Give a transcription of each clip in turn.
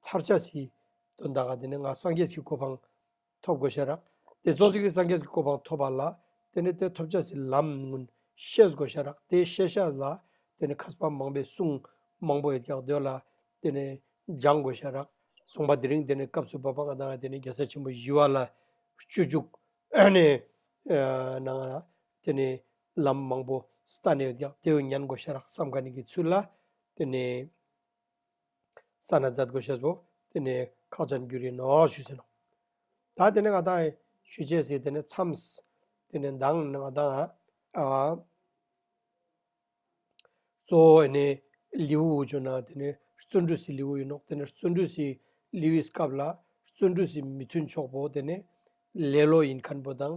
མཚར་ཆ་ཞིག་དོན་དག་ག་དེ་ནི་ང་སངས་རྒྱས་ཀྱི་གོ་འཕང་ཐོབ་དགོས་ཤར། དེ་ཚོགས་ཞིག་གིས་སངས་རྒྱས་ཀྱི་གོ་འཕང་ཐོབ་པ་ལ་དེ་ནི་དེ་ཐོབ་བྱ་སའི་ལམ་མངོན་ཤེས་དགོས་ཤར། དེ་ཤེས་བྱ་ལ་དེ་ནི་ཁ་ཟས་པ་མང་པའི་གསུང་མང་པོ་ཡོད་ཀྱང་དོན་ལ་དེ་ནི་སྦྱང་དགོས་ཤར། གསུངས་པ་དེ་རིང་དེ་ནི་སྐབས་སུ་བབ་པ་ང་དང་དེ་ནི་རྒྱལ་སྲས་ཆེན་པོ་བཞི་བ་ལ་སྤྱོད་བཅུག་ནས་ན་ང་ལ་དེ་ནི་ལམ་མང་པོ་ས་ནས་ཡོད་ཀྱང་དེ་འོས་ཉན་དགོས་ཤར་བསམ་ག་ནི་གི་ཚུལ་ལ་དེ་ནི། ས་ན་འཛད་དགོས་ཤེས་སོ། དེ་ནས་ཁག་ཅན་རྒྱུ་རིགས་ནོ་ཞུས་ཟིན་ནོ། ད་དེ་ནས་ང་ད་ཞུས་བྱས་ཟིན་དེ་ནས་མཚམས། དེ་ནས་མདང་ནས་ང་ད། གཙོ་བོ་ནི་ལིའུ་ཝུ་ཅུ་ན་དེ་ནས་བརྩོན་འགྲུས་སི་ལིའུ་ཡིན་ནོ་དེ་ནས་བརྩོན་འགྲུས་སི་ལིའུ་ཡིས་སྐབས་ལ་བརྩོན་འགྲུས་སི་མི་མཐུན་ཕྱོགས་པོ་དེ་ནས་ལེ་ལོ་ཡིན་མཁན་པོ་དང།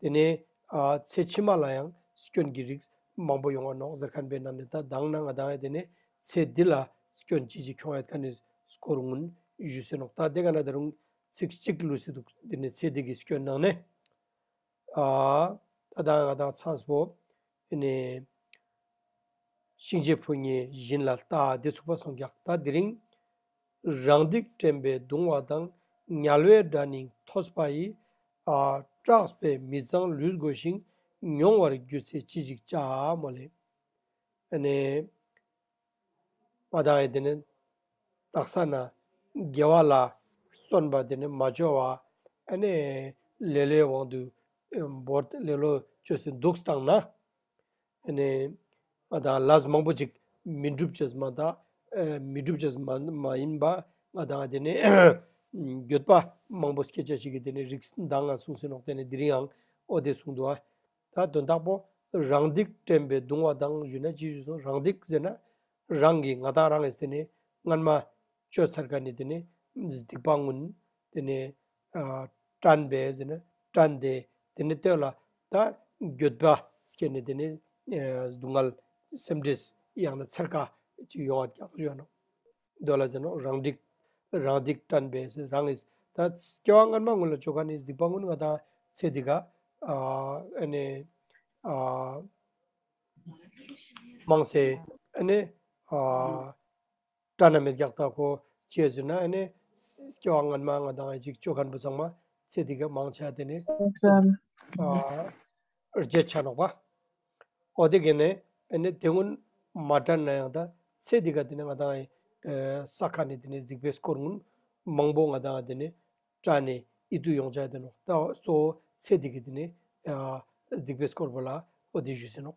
དེ་ནས་ཚེ་ཕྱི་མ་ལ་ཡང་སྐྱོན་གྱི་རིགས་མང་པོ་ཡོང་བ་ནོག་ཟེར་ཁན་པའི་ནང་ནས་ད་གདང་ན་ང་གདང་ཡས་དེ་ནས་ཚེ་འདི་ལ་སྐྱོན་ཅི་ཅི་འཁྱོང་ཡས་ཁ་ནས་སྐོར་ངུན་བཞུ་སེ་ནོག་ད་དེ་ག་ན་ད་རུང་ཚིག་གཅིག་ལུས་སེ་འདུག་དེ་ནས་ཚེ་འདི་གི་སྐྱོན་ནང་ནས་ད་གདང་ཡས་ང་གདང་ཚངས་པོ་དེ་ནས་གཤིན་རྗེ་ཕོ་ཉའི་བཞིན་ལ་རྟ་དེ་ཚུགས་པ་སོང་རྒྱག་ད་དེ་རིང། རང་སྡིག་དྲན་པའི་གདུང་བ་དང་ཉལ་བའི་སྒྲ་སྙིང་ཐོས་པ་ཡི། སྐྲགས་པས་མི་གཙང་ལུས་བསྒོ་ཞིང་མྱོང་བར་གྱུར་ཚེ་ཅི་ཞིག་བྱ། མོ་ལས། ནས། མ་དང་ཡི་དེ་ནི་དག་ས་ན། དགེ་བ་ལ། བརྩོན་པ་དེ་ནི་མ་བཅོལ་བ། ནས། ལེ་ལོའི་དབང་དུ། འབོར། ལེ་ལོ་བཅོལ་ཚེ་འདུག་སྟངས་ན། ནས་ང་དང་ལཱས་མང་པོ་ཅིག་མི་འགྲུབ་ཅེས་མ་ཐག་མི་འགྲུབ་ཅེས་མ་ཡིན་པ་ང་དང་དེ་ནས་གྱོད་པ་མང་པོ་སྐད་ཆ་ཞིག་གིས་དེ་ནས་རིགས་འདང་ང་གསུངས་ཟིན་ནོག་དེ་ནས་དེ་རིང་ཨོ་དེ་གསུངས་འདུག་ཨ། ད་དོན་དག་པོ་རང་སྡིག་དྲན་པའི་གདུང་བ་དང་བཞུས་ན་ཅི་ཞུས་སོང་རང་སྡིག་ཟེར་ན་རང་གིས་ང་དང་རང་གིས་དེ་ནས་སྔར་མ་བཅོས་ཚར་ག་ནས་དེ་ནས་སྡིག་པ་སྔོན་དེ་ནས་བཀྲམ་པའི་ཟེར་ན་བཀྲམ་སྟེ་དེ་ནས་བསྟོད་ལ། ད་འགྱོད་པ་སྐྱེས་ནས་དེ་ནས་སྡུག་བསྔལ་སེམས་ཁྲིད་ཡང་ན་འཚེར་ཁ་ཅིག་ཡོང་བ་ཀྱང་ཡོད་ནོ། འདོད་ལ་ཟེར་ན་རང་སྡིག། རང་སྡིག་བཀྲམ་པའི་ཟེར་རང་ངེས། ད་སྐྱེ་བ་སྔ་མ་སྔོན་ལ་སྤྱོད་ཁ་ནི་སྡིག་པ་སྔོན་ང་དང་ཚེ་འདི་ཀ། དམངས་སེ། སྐྲ་ན་མེ་བརྒྱག་ལྟ་གོ། ཅེས་ཟེར་ན་ཨ་ནི། སྐྱེ་བ་སྔོན་མ་ང་དང་ཨ་ཅིག་ཅོ་ཁར་འབུ་ཚང་མ། ཚེ་འདི་གའི་མང་ཆ་དེ་ནི། རྗེས་ཆ་ནོག་པ། ཨོ་དེ་གས་ནི། ཨ་ནི་དེ་སྔོན་མ་དྲན་ན་ཡང་དང། ཚེ་འདི་ག་དེ་ནི་ང་དང་ཨའི། ས་ཁ་ནི་དེ་ནི་གཟིགས་པའི་སྐོར་དངོས། མང་པོ་ང་དང་ཨ་དེ་ནི། སྐྲ་ནི་ཨི་དུ་ཡོང་ཆ་དེ་ནོག་ལྟ་སོ། ཚེ་འདི་གས་དེ་ནི། གཟིགས་པའི་སྐོར་བོ་ལ་ཨོ་དེ་བཞུད་ཟིན་ནོག།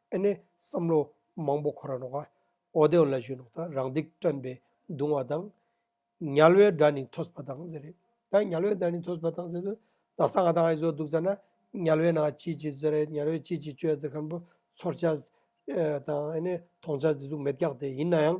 ཨེ་ནས་བསམ་བློ་མང་པོ་ཁོ་ར་ནོག་ཨ། ཨོ་དེའོ་ལ་ཞུས་ནོག་ད་རང་སྡིག་སྐྲན་པའི་གདུང་བ་དང། ཉལ་བའི་སྒྲ་ནི་ཐོས་པ་དང་ཟེར། ད་ཉལ་བའི་སྒྲ་ནི་ཐོས་པ་དང་ཟེར་དུས་ད་ས་ང་དང་ཨའི་བཟོ་འདུག་ཟེར་ན། ཉལ་བའི་ནང་སྐྱིད་ཀྱི་ཟེར་རེད་ཉལ་བའི་སྐྱིད་ཀྱི་ཅོའི་ཟེར་ཁམ་བུ་ཚོར་བྱ། དང་ཨེ་ནས་མཐོང་བྱ་དེ་གཟུགས་མེད་རྒྱག་དེ་ཡིན་ན་ཡང།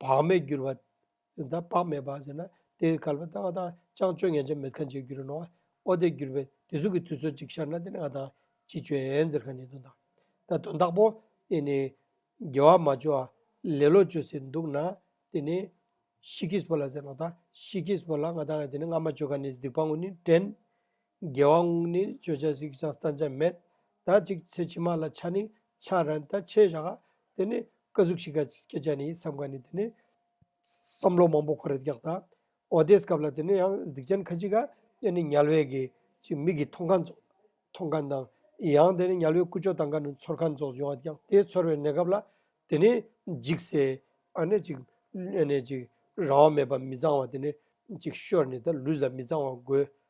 བག་མེད་འགྱུར་བ། དང་བག་མེད་པ་ཟེར་ན་དེ་གལ་བ་དང་ང་དང་ཅང་སྤྱོད་ངན་ཅན་མེད་གང་བྱས་འགྱུར་ནོ། ཨོ་དེ་འགྱུར་བའི་དེ་གཟུགས་ཀྱི་དུས་ཚོད་ཅིག་ཤར་ན་དེ་ནི་ང་དང་ཅི་སྤྱོད་ཟེར་གང་ཉན་དོན་དང། ད་དོན་དག་པོ་དེ་ནི་དགེ་བ་མ་བཅོལ་བ་ལེ་ལོ་བཅོལ་སྲིད་འདུག་ན་དེ་ནི་ཤི་ཁིས་པོ་ལ་ཟེར་ནོ་ད་ཤི་ཁིས་པོ་ལ་ང་དང་ང་དེ་ནི་ང་མ་བཅོལ་གང་ནས་སྡིག་པ་དངོས་ནི་དྲན། རྒྱལ་བ་དངོས་ནི་བརྗོད་བྱ་གཟིགས་ཀྱང་བསྟན་བྱ་མེད། ད་ཅིག་ཚེ་ཕྱི་མ་ལ་ཆ་ནི་ཆགས་རན་ད་ཆེས་བཞག་ཨ། དེ་ནི་སྐུ་གཟུགས་ཤིག་ག་སྐྱེས་བྱ་ནི་བསམ་ག་ནི་དེ་ནི། བསམ་བློ་མང་པོ་ཁོ་རེ་རྒྱག་ད། འོ་དེས་སྐབས་ལ་དེ་ནི་ཡང་སྡིག་ཅན་ཁ་ཅིག་ག་ཨེ་ནི་ཉལ་བས་གི་ཅིག་མིག་གི་མཐོང་ག་རྫོགས། མཐོང་ག་དང། ཡང་དེ་ནི་ཉལ་བས་ཀུ་ཅོ་དང་ག་ནི་ཚོར་ག་རྫོགས་ཡོང་ཨ་རྒྱག་དེས་ཚོར་བའི་གནས་སྐབས་ལ་དེ་ནི། འཇིགས་སེ་ཨ་ནི་ཅིག་ཨེ་ནི་ཅིག་རང་དབང་མེད་པ་མི་གཙང་བ་དེ་ནི་ཅིག་ཤོས་ནི་ད་ལུས་ལ་མི་གཙང་བ་དགོས་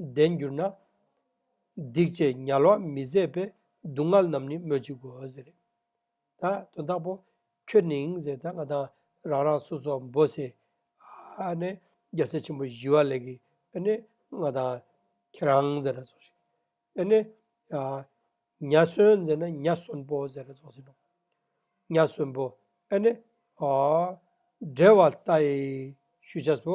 ལྡན་གྱུར་ན། སྡིག་ཅེས་ཉལ་བ་མི་བཟད་པའི་སྡུག་བསྔལ་རྣམས་ནི་སྨོས་ཅི་དགོས་ཟེར། ད་དོན་དག་པོ། ཁྱོད་ནིང་ཟེར་ད་ང་དང་རང་རང་སོ་སོ་འབོ་སེ། ཨ་ནི་རྒྱལ་སྲས་ཆེན་པོ་བཞི་བ་ལས་ཀྱི་ཨ་ནི་ང་དང་ཁྱེད་རང་ཟེར་ར་སོགས། ཨ་ནི། མྱ་གསོན་ཟེར་ན་མྱ་གསོན་པོ་ཟེར་ར་སོགས་ཟེར་ནོ། མྱ་གསོན་པོ། ཨ་ནི། འབྲལ་བ་ལྟ་ཡི་ཞུ་བྱ་སོ།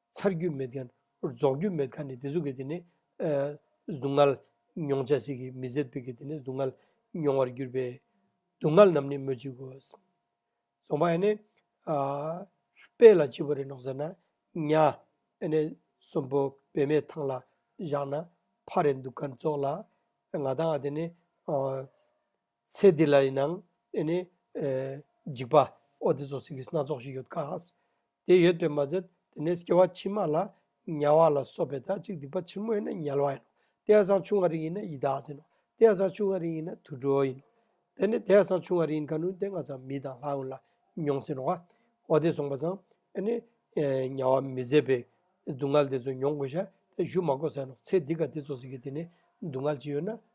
ཚར་རྒྱུ་མེད་མཁན། རྫོགས་རྒྱུ་མེད་མཁན་ནི་དེ་ཚོ་གི་དེ་ནི། སྡུག་བསྔལ་མྱོང་བྱ་ཞིག་གིས་མི་ཟད་པའི་གི་དེ་ནི་སྡུག་བསྔལ་མྱོང་བར་གྱུར་པའི། སྡུག་བསྔལ་རྣམས་ནི་སྨོས་ཅི་དགོས། ཚངས་པ་ཨེ་ནས། དཔལ་ལ་ཅི་བོ་རེ་གནོང་ཟེར་ན། གཉའ་ཨེ་ནས་གསོན་པོ་བེད་མེད་ཐང་ལ་བཞག་ན། ཕ་རེ་འདུག་གར་རྫོགས་ལ། ང་དང་ཨ་དེ་ནི། ཚེ་འདི་ལ་ཡིན་ནའང་དེ་ནི། འཇིགས་པ་ཨོ་དེ་ཚོ་ཟེར་གྱི་སྣ་ཚོགས་ཤིག་ཡོད་དཀའ། དེ་ཡོད་པས་མ་ཟད་དེ་ནས་སྐྱེ་བ་ཕྱི་མ་ལ་དམྱལ་བ་ལ་སོགས་པའི་དག་ཅིག་སྡིག་པ་ཆེན་མོ་ཡིན་ན་དམྱལ་བ་ཡིན་ནོ། དེ་ཡང་སྲང་ཆུང་བ་རིགས་ཡིན་ན་ཡི་དྭགས་ཟིན་ནོ། དེ་ཡང་སྲང་ཆུང་བ་རིགས་ཡིན་ན་དུད་འགྲོ་ཡིན་ནོ། དེ་ནི་དེ་ཡང་སྲང་ཆུང་བ་རིགས་ཡིན་ཁ་ནུ་དེ་ང་ཚང་མི་དང་ལྷ་ཡོངས་ལ་མྱོང་ཟིན་ནོ། ཨོ་དེ་སོང་པ་སང་དེ་ནི། དམྱལ་བ་མི་བཟད་པའི་སྡུག་བསྔལ་དེ་ཚོ་མྱོང་དགོས་ཤ་དེ་བཞུགས་མ་དགོས་ཟེར་ནོ། ཚེ་འདི་ག་དེ་ཚོ་ཟེར་གྱི་དེ་ནི་སྡུག་བསྔལ་ཅི་ཡོད་ན་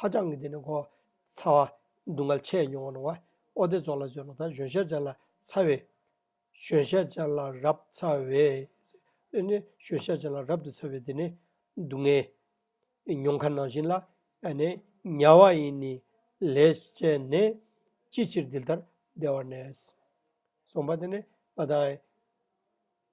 ཧ་ཅང་གི་དེ་ནི་འགོ་ཚ་བ། སྡུག་བསྔལ་ཆེས་མྱོང་བ་རུང་བ། ཨོ་ཏེ་ཙོག་ལ་བྱོན་ནོ་ད་གཞོན་ཤ་ཅན་ལ་ཚ་བའི། གཞོན་ཤ་ཅན་ལ་རབ་ཚ་བའི། འདི་ནི་གཞོན་ཤ་ཅན་ལ་རབ་ཏུ་ཚ་བའི་དེ་ནི། སྡུག་བསྔལ། མྱོང་ཁ་ནང་བཞིན་ལ། ནི། དམྱལ་བ་ཡིན་ནི། ལས་བྱས་ནས། ཅི་ཕྱིར་འདི་ལྟར་བདེ་བར་གནས། གསུངས་པ། འདི་ནི་ང་དང།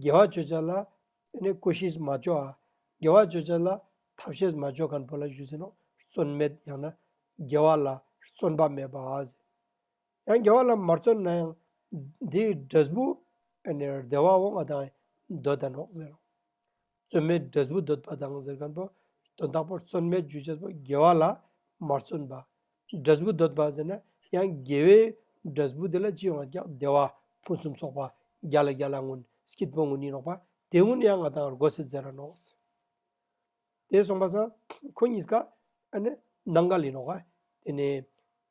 དགེ་བ་བརྗོད་བྱ་ལ། ཀུ་ཤིས་མ་བཅོ་ཨ། དགེ་བ་བརྗོད་བྱ་ལ། ཐབས་ཤེས་མ་བཅོ་ག་འགྲོ་ལ་བཞུད་ཟིན་ནོ། བརྩོན་མེད་ཡང་ན། དགེ་བ་ལ་བརྩོན་པ་མེད་པ་ཨ། ཡང་དགེ་བ་ལ་མ་བརྩོན་ན་ཡང། དེའི་འབྲས་བུ། བདེ་བ་འོང་བ་དང། འདོད་ལྡན་ནོ། རྩོལ་མེད་འབྲས་བུ་འདོད་པ་དང་ཟེར་གང་པོ། དོན་དག་པོར་རྩོལ་མེད་རྒྱུ་འབྲས་བུ་དགེ་བ་ལ་མ་བརྩོན་པ། འབྲས་བུ་འདོད་པ་ཟེར་ན་ཡང་དགེ་བའི་འབྲས་བུ་དེ་ལ་ཅི་ཡོང་བ་ཀྱང་བདེ་བ་ཕུན་སུམ་ཚོགས་པ་བརྒྱ་ལ་བརྒྱ་ལ་སྔོན་སྐྱིད་པོ་དངོས་ཉིད་རོགས་པ་དེ་སྔོན་ཡང་ང་དང་རྒོད་སེ་རྫས་ར་ནོག་ཟེར། དེ་སོང་པ་སང་ཁོ་གཉིས་ཀ་ཨ་ནི་ནང་ག་ལས་ནོག་ག་དེ་ནས